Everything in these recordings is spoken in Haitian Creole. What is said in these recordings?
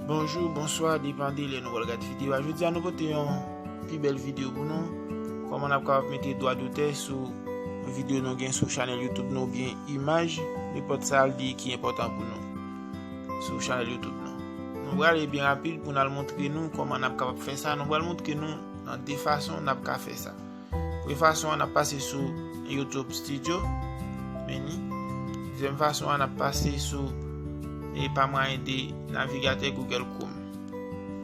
Bonjou, bonswa, depan de lè nou wèl gad videyo a. Jodi a nou pote yon pi bèl videyo pou nou. Koman ap kapap mete dwa dotè sou videyo nou gen sou chanel YouTube nou byen imaj, li pot sa al di ki enpotan pou nou sou chanel YouTube nou. Nou wèl e byen rapil pou nan moutre nou koman ap kapap fè sa. Nou wèl moutre nou nan de fason nan ap ka fè sa. Premye fason an ap pase sou YouTube studio menu. Dezyèm fason an ap pase sou e pa mwayen de navigatè Google Chrome.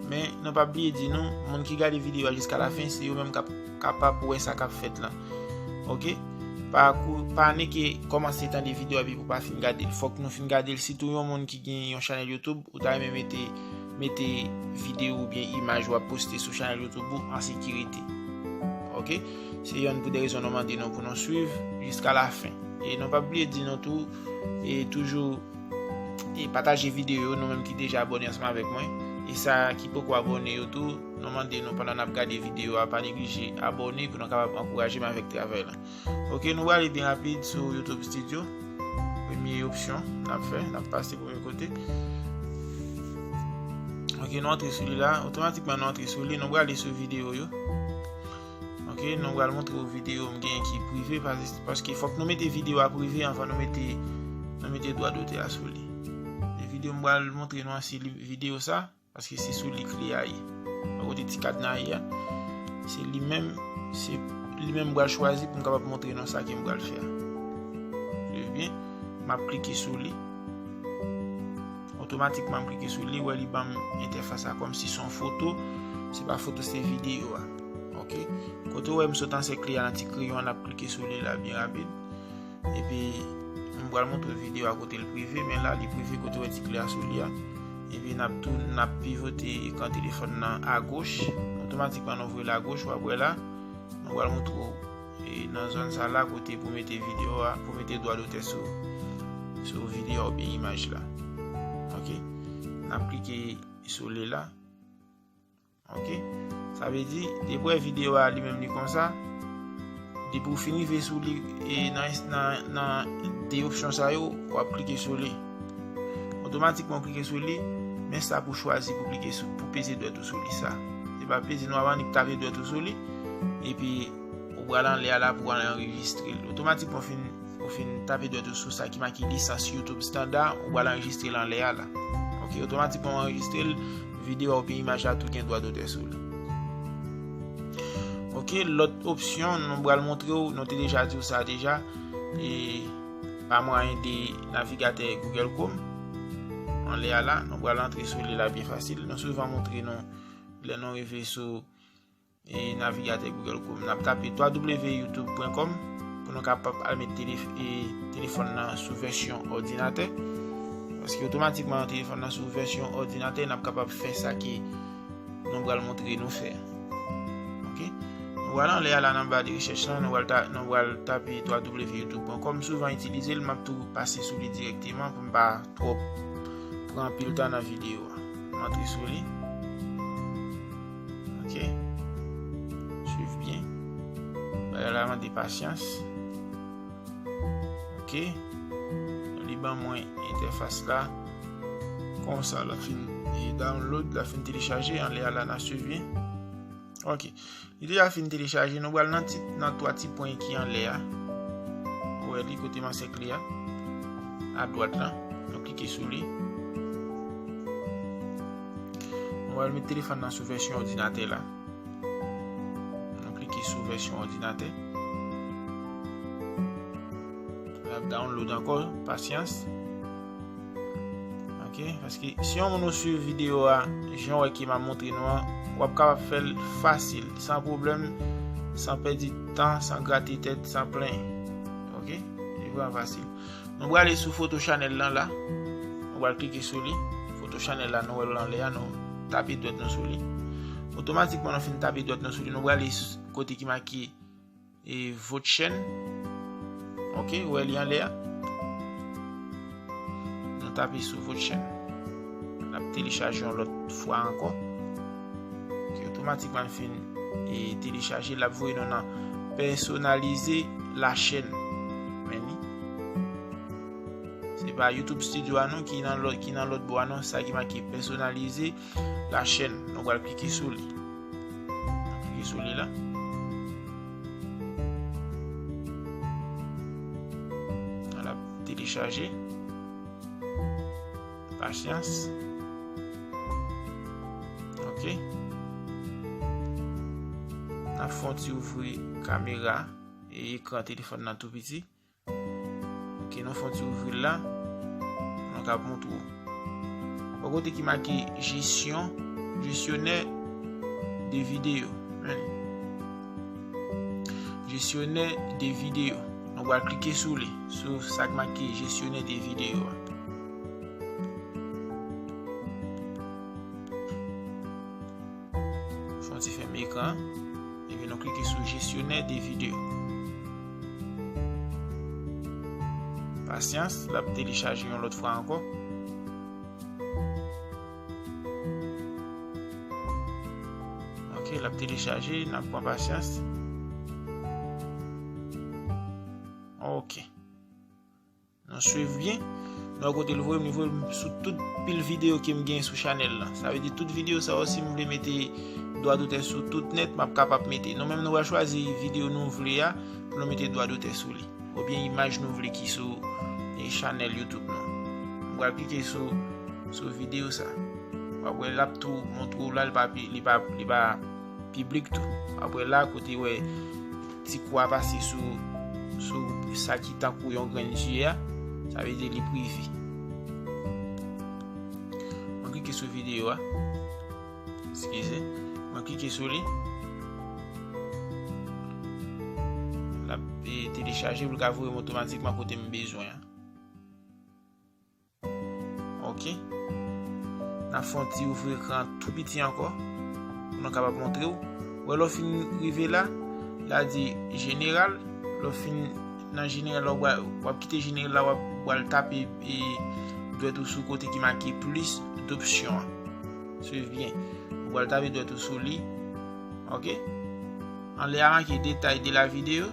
Men nou pa bliye di nou, moun ki gade videyo a jiska la fin, se yo menm kap kapab wè sa kap fèt lan. Ok? Pa kou, pa ne ke komanse tande videyo a bi pou pa fin gade l. Fok nou fin gade l, sitou yon moun ki gen yon chanèl YouTube, ou ta renmen mete Mete video oubyen imaj wap poste sou chanèl youtube ou an sekirite ok se yonn pou de rezon nou mande nou pou nou swiv jiska la fen e nou pa bliye di nou tou e toujou e pataje video yo nou menm ki deja abone ansanm avèk mwen e sa ki poko abone yo tou nou mande nou pandan nap gade video a pa neglije abone pou nou kapab ankouraje m avèk travèl. Ok nou wale byen rapid sou Youtube studio Premye opsyon Nap fè Nap pase premye kote Ok nou antre sou li la Otomatikman nou antre sou li Nou wale sou video yo Ok nou wale montre ou video M gen ki prive Paske fok nou mete video a prive Anvan nou mete Nou mete dwa dote a sou li Video m wale montre nou an si video sa Ok Paske se sou li kle a ye. Mwen kote ti kadna ye a. Se li menm, se li menm bral chwazi pou m kapab montre nou sa ke m bral fè a. Suiv byen. M ap klike sou li. Otomatikman m klike sou li, wè li banm entèfas la kòm si son foto. Se pa foto, se videyo a. Ok. Kote ou wè m sot ansèkle a nan ti kreyon an, n ap klike sou li la byen rapid. Epi m pral montre video a kote l prive men la li prive kote wè ti kle a sou li a. Epi nap tou nap pivote ekran telefòn nan a goch. Otomatikman nou vwe l a goch wap wè la. M pral montre w e nan zòn sa la kote pou mete video a pou mete dwa dotè sou sou video a oubyen imaj la. Ok. Nap klike sou li la. Ok, sa vle di, depwè video a li menm li konsa, depi ou fini ve sou li, e nan de opsyon sa yo, wap klike sou li. Otomatikman klike sou li, men sa pou chwazi pou klike sou, pou peze dwèt ou sou li sa. Se pa peze nou avan, ni ptave dwèt ou sou li, epi ou pral anle a la pou anle anregistre. Otomatikman fin. Ou fin tape dwèt ou sou sa ki make lisans YouTube standa, ou pral anrejistre l anlè a la. Ok, otomatikman ou anrejistre l, videyo a oubyen imaj la tou gen dwa dotè sou li. Ok, lòt opsyon nou pral montre ou, nou te deja di ou sa deja, e pa mwayen de navigatè Google Chrome. Anlè a la, nou pral antre sou li la byen fasil. Nou souvan montre nou lè nou rive sou E navigatè Google Chrome nap tape www.youtube.com pou nou kapap al met telefòn nan sou vèsyon òdinatè. Paske otomatikman yon telefòn nan sou vèsyon òdinatè nap kapap fè sa ki nou bral montre nou fè. Ok. Nou al anlè ala nan ba de rechèch lan, nou al tape www.youtube.com m souvan itilize l map tou pase sou li direkteman pou m pa twòp pran anpil tan nan videyo. M antre sou li. Ok. Suiv byen. Bagay la mande pasyans. Ok. Li ban mwen entèfas la. Kon sa la fin e download la fin telechaje an le ala nan suiv byen. Ok. Li deja fin telechaje. Nou bal nan 3 ti pwen ki an le a. Ou e li kote man sek li a. A dwat la. Nou klike sou li. Mwen pral met telefòn nan sou vèsyon òdinatè la. Mwen klike sou vèsyon òdinatè. La download ankò, pasyans. Ok, paske si yon moun ou suiv video a, jan wè ki ma montre nou an, wap kapab fèl fasil, san problem, san pèdi tan, san grate tèt, san plen. Ok, li vwa fasil. Nou brale sou foto chanèl lan la. Nou bral klike sou li. Foto chanèl la nou wèl lan lè a nou tape dwèt nou sou li. Otomatikman nou fin tape dwèt nou sou li. Nou brale kote ki maki e vot chèn. Ok, wè li an lè a. Nou tape sou vot chèn. N ap telechaje yon lòt fwa ankon. Ki otomatikman fin e telechaje lap voye nou nan pèsonalize la chèn. Men ni. Se pa YouTube studio a nou ki nan lòt ki nan lòt bo a nou sa ki make pèsonalize la chèn. Nou wal klike sou li. Klike sou li la. Lap telechaje. Pasyans. Ok. Nan fon ti ouvri kamera. E ekran telefon nan tou piti. Ok. Nan fon ti ouvri la. Nan kap moun tou. Ou kote ki maki jesyon. Jesyonè. De video. Men. Jesyonè de video. Nan wak klike sou li. Sou sak maki jesyonè de video. Fon ti fèm ekran. Epi nou klike sou jesyonè de video. Pasyans, l ap telechaje yon lòt fwa ankò. Ok, l ap telechaje, n ap pran pasyans. Ok. Nou swiv byen. Nou wè kote l voye m, li voye m sou tout pil videyo ke m gen sou chanèl la. Sa vle di tout videyo sa yo si m vle mete dwa dotè sou tout nèt m ap kapab mete. Nou menm nou pral chwazi videyo nou vle a pou nou mete dwa dotè sou li. Oubyen imaj nou vle ki sou chanèl youtube nou. M pral klike sou videyo sa. W ap wè l ap tou montre w la li pa li pa li pa. Piblik tou. Apre la, kote wè ti kou a pase sou sou sa ki tankou yon grenn zye a, sa vle di li prive. Mwen klike sou videyo a. Eskize. Mwen klike sou li. La e, telechaje pou l ka voye m otomatikman kote m bezwen an. Ok. Nap fè yon ti ouvri ekran tou piti ankò. Pou nou kapab montre ou. Wè lò fin rive la. La di general. Lò fin nan general la wap kite general la wap wal tape e dwèt ou sou kote ki make plis dopsyon an. Swiv byen. Wal tape dwèt ou sou li. Ok. Anle a make detay de la video.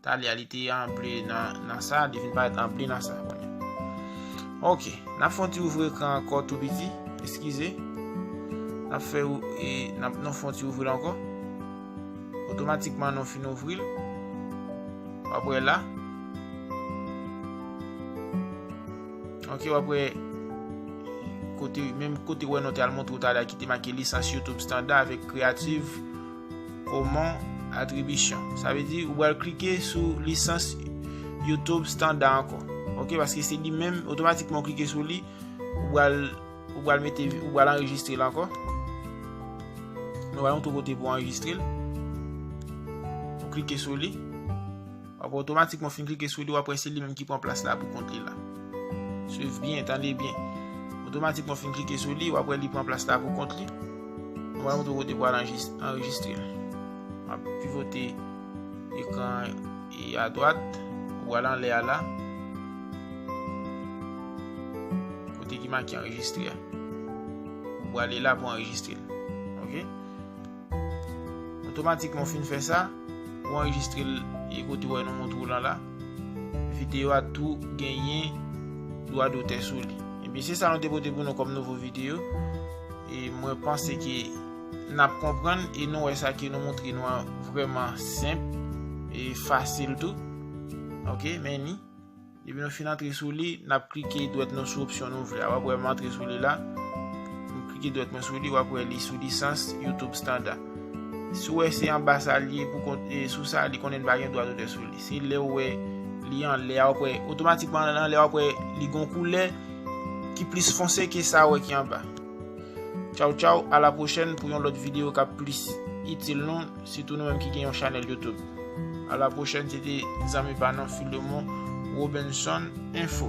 Talia li te anble nan sa, li vin parèt anble nan sa kounye a. Ok, n ap fè yon ti ouvri ekran ankò tou piti, eskize. N ap fè e n ap nou fè yon ti ouvri l ankò. Otomatikman nou fin ouvri l. W ap wè la. Ok, w ap wè kote menm kote wè nou te al montre w Talia ki te make lisans YouTube standard avèk creative. Koman atribisyon. Sa vle di ou bal klike sou lisans YouTube standa ankò. Ok paske se li menm otomatikman ou klike sou li ou bal ou bal mete ou bal anrejistre l ankò. Nou bal yon tou kote pou anrejistre l. Ou klike sou li. Wap otomatikman fin klike sou li wap wè se li menm ki pran plas la pou kont li la. Swiv byen, tande byen. Otomatikman fin klike sou li wap wè li pran plas la pou kont li. Mwen wap montre kote pou al anrejistre. Wap pivote ekran e a dwat. Wal anle a la. Kote ki maki anrejistre. Wale la pou anrejistre. Ok. Otomatikman ou fin fè sa, ou anrejistre l e kote wè nou montre w lan la. Videyo a tou genyen dwa dotè sou li. Ebyen se sa nou te pote pou nou kòm nouvo videyo. E mwen panse ke n ap konprann e nou wè sa ke nou montre nou an vreman senp e fasil tou. Ok, men ni. Depi nou fin antre sou li, n ap klike dwèt nou sou opsyon nou vle a. W ap wè m antre sou li la. M klike dwèt mwen sou li, w ap wè li sou lisans YouTube standa. Si w wè se anba sa li ye, sou sa li konnen pa gen dwa dotè sou li. Se lè w wè li anlè a, w ap wè otomatikman anlè a, w ap wè li gen yon koulè ki plis fonse ke sa ou wè ki anba. Tchaw tchaw a la pwochèn pou yon lòt video kap plis itil nou sitou nou menm ki gen yon chanèl YouTube. A la pwochèn se te zanmi pa nou Philemon Robinson info.